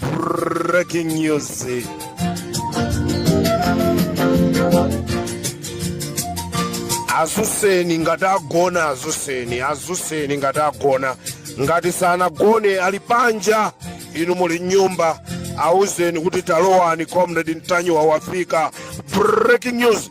breaking news azuseni ngati agona azuseni azuseni ngati agona ngati sanagone ali panja inu muli nyumba auzeni kuti talowani comrade ntanyiwa wafika breaking news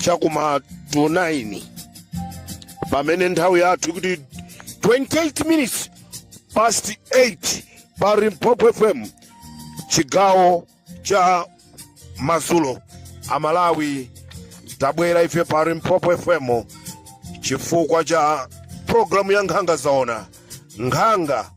chakuma 9 pamene nthawi yathu ikuti 28 minutes past 8 pa limpopo fm chigawo cha madzulo amalawi tabwera ife pa limpopo fm chifukwa cha programu ya nkhanga zaona nkhanga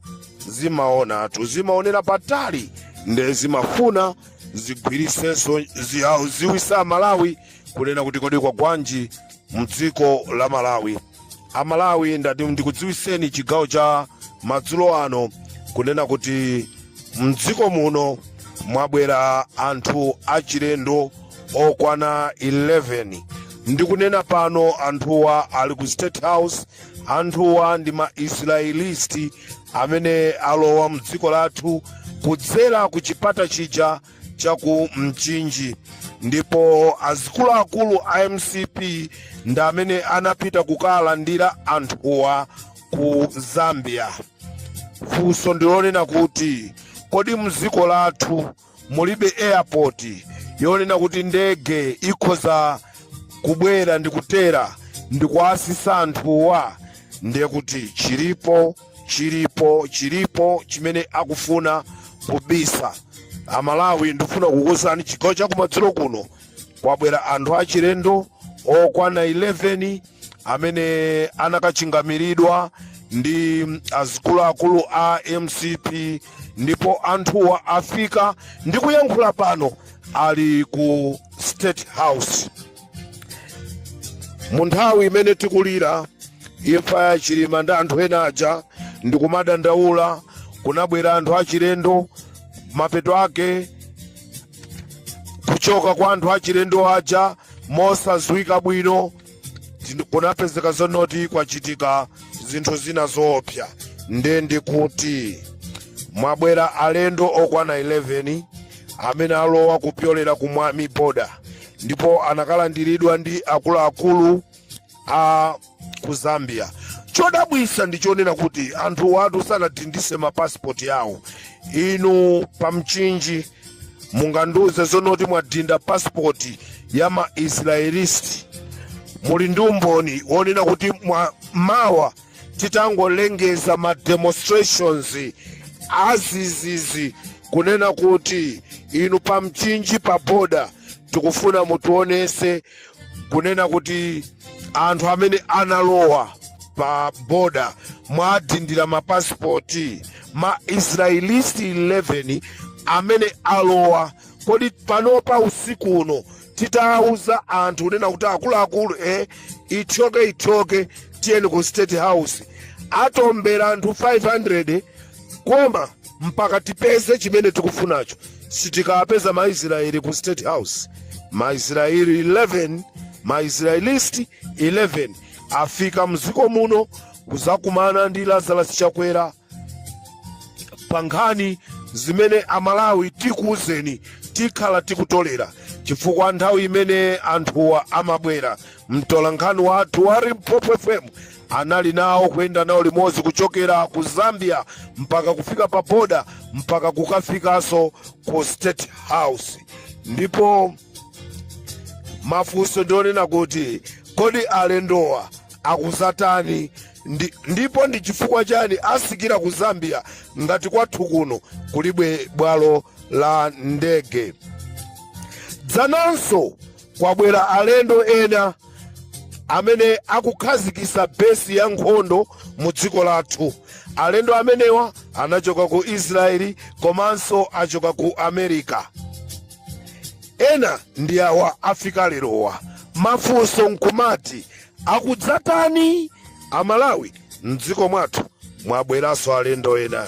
zimaona tu zimaonera patali nde zimafuna zigwiritsenso zi- ah, dziwitsa amalawi kunena kuti kodi kwagwanji mdziko la malawi amalawi ndati ndikudziwiseni chigawo cha madzulo ano kunena kuti mdziko muno mwabwera anthu achilendo okwana 11 ndikunena pano anthuwa ali ku state house anthuwa ndi ma israelisti amene alowa mdziko lathu kudzera ku chipata chija cha ku mchinji ndipo azikuluakulu a mcp ndi amene anapita kukalandira anthuwa ku zambia funso ndilonena kuti kodi mdziko lathu mulibe airport yonena kuti ndege ikhoza kubwera ndi kutera ndikuwatsitsa anthuwa ndiye kuti chilipo chilipo chilipo chimene akufuna kubisa amalawi ndifuna kukuwuzani chigawo chakumadzulo kuno kwabwera anthu achilendo okwana 11 amene anakachingamiridwa ndi azikuluakulu a mcp ndipo anthuwa afika ndikuyankhula pano ali ku state house mu nthawi imene tikulira imfa ya chilima ndi anthu ena aja ndikumadandaula kunabwera anthu achilendo mapeto ake kuchoka kwa anthu achilendo aja mosadziwika bwino kunapezeka zonoti kwachitika zinthu zina zoopsa nde ndikuti mwabwera alendo okwana 11 amene alowa kupyolera ku mwami border ndipo anakalandiridwa ndi akuluakulu a ku zambia chodabwisa ndi chonena kuti anthu awatu sanadindise mapasipoti awo inu pamchinji mungandiuze zonoti mwadinda pasipoti ya maisraelisti muli ndi umboni wonena kuti mwa mawa titangolengeza ma demonstrations azizizi kunena kuti inu pamchinji pa boda tikufuna mutionese kunena kuti anthu amene analowa pa boda mwadindira mapasipoti ma israelisti 11 amene alowa kodi panopa usiku uno titawuza anthu kunena kuti akuluakulu eh, ithyoke ithyoke tiyeni ku state house atombera anthu 500 koma mpaka tipeze chimene tikufunacho sitikapeza maisraeli ku state house maisraeli 11 maisraelisti 11 afika mdziko muno kuzakumana ndi lazarus chakwera pa nkhani zimene amalawi tikuuzeni tikhala tikutolera chifukwa nthawi imene anthuwa amabwera mtolankhani wathu wa limpopo fm Anali nawo kuyenda nawo limodzi kuchokera ku Zambia mpaka kufika pa boda mpaka kukafikanso ku State House. Ndipo mafunso ndi onena kuti kodi alendowa akuzatani, ndipo ndi chifukwa chani asikira ku Zambia ngati kwathu kuno kulibe bwalo la ndege. Dzananso kwabwera alendo ena amene akukhazikisa besi ya nkhondo mu dziko lathu alendo amenewa anachoka ku israeli komanso achoka ku america ena ndi awa afika lerowa mafunso nkumati akudzatani amalawi mdziko mwathu mwabweranso alendo ena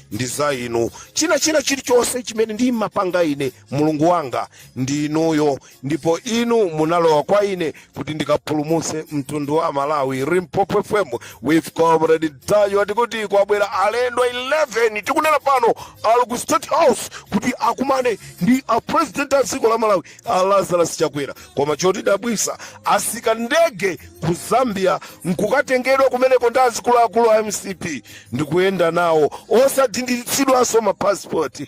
ndi za inu china china chilichonse chimene ndimapanga ine mulungu wanga ndi inuyo ndipo inu munalowa kwa ine kuti ndikapulumutse mtundu wa malawi limpopo fm with comrade ntanyiwa ati kuti kwabwera alendo 11 tikunena pano ali ku state house kuti akumane ndi a president a dziko la malawi a lazarus chakwera koma chotidabwisa asika ndege ku zambia nkukatengedwa kumeneko ndi azikuluakulu a mcp ndikuyenda nawo osadinditsidwanso mapasipoti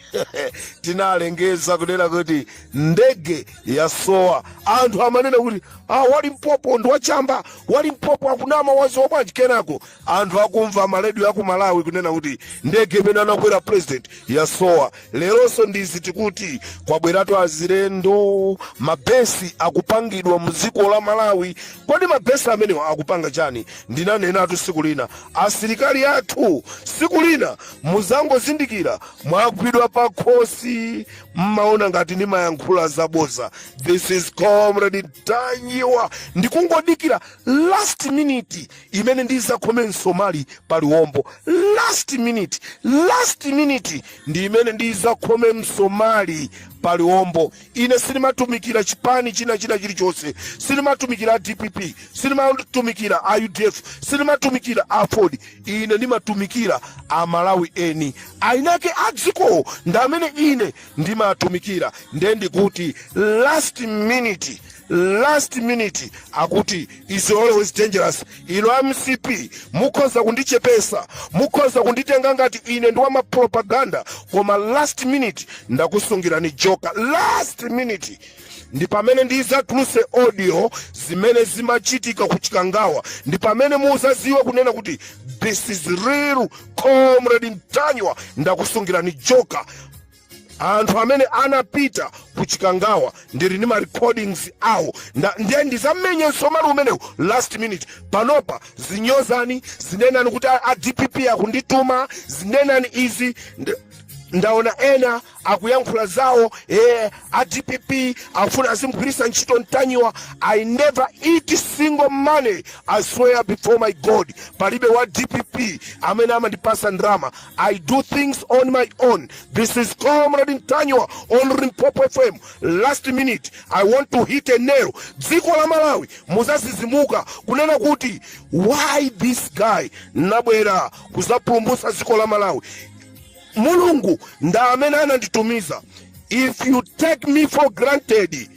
tinalengeza kunena kuti ndege yasowa anthu amanena kuti ah, wa limpopo ndi wachamba wa limpopo akunama waziwa bwanji kenako anthu akumva ma radio aku malawi kunena kuti ndege imene anakwera president yasowa leronso ndizi tikuti kwabweratu azilendo mabesi akupangidwa mdziko la malawi kodi mabesi amenewa akupanga chani ndinanenatu siku lina asilikali athu siku lina muzangozindikira mwagwidwa pa khosi mmaona ngati ndimayankhula zaboza this is comrade Ntanyiwa ndikungodikira last minute imene ndizakhome msomali pa liwombo last minute last minute ndi imene ndizakhome msomali pa liwombo ine sindimatumikira chipani china china chilichonse sindimatumikira dpp sindimatumikira udf sindimatumikira aford ine ndimatumikira amalawi eniake a dzikowo ndi amene ine ndimatumikira nde ndikuti last minute last minute akuti is always dangerous inu a mcp mukhoza kundichepesa mukhoza kunditenga ngati ine ndi wamapropaganda koma last minute ndakusungirani joka last minute ndi pamene ndizatuluse audio zimene zimachitika ku chikangawa ndi pamene muzaziwa kunena kuti this is real comrade Ntanyiwa ndakusungirani joka anthu amene anapita ku chikangawa ndili ndi ma recordings awo ndiye ndizamenye msomali umenewu last minute panopa zinyozani zinenani kuti a dpp akundituma zinenani izi ndaona ena akuyankhula zawo a dpp afuna azimgwiritsa ntchito Ntanyiwa i never eat single money i swear before my god palibe wa dpp amene amandipasa ndrama I do things on my own. This is Comrade Ntanyiwa on Limpopo FM. Last minute, I want to hit a nail. Dziko la Malawi muzazizimuka kunena kuti why this guy anabwera kuzapulumutsa dziko la Malawi. Mulungu ndi amene ananditumiza. If you take me for granted,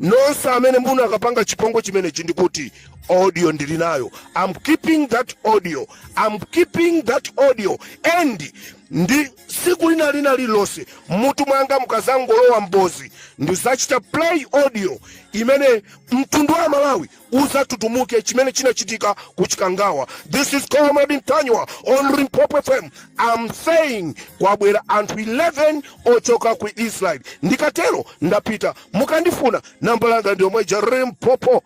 nonse amene munakapanga chipongwe chimenechi ndikuti audio ndili nayo I'm keeping that audio I'm keeping that audio and ndi siku lina lina lililonse mutu mwanga mukazangolowa mbozi ndizachita play audio imene mtundu wa malawi uzatutumuke chimene chinachitika ku chikangawa this is comrade Ntanyiwa on limpopo fm i'm saying kwabwera anthu 11 ochoka ku israel ndikatero ndapita mukandifuna namba langa ndi lomweja limpopo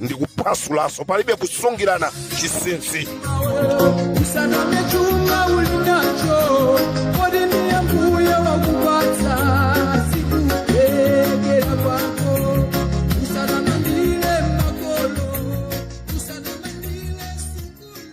ndi kuphwasulaso palibe kusungirana chisinsi usanamizidwe chuma ulinacho kodi ndiye mbuye wakupatsa sikuthekera kwako usanamandire makolo usanamandire sukulu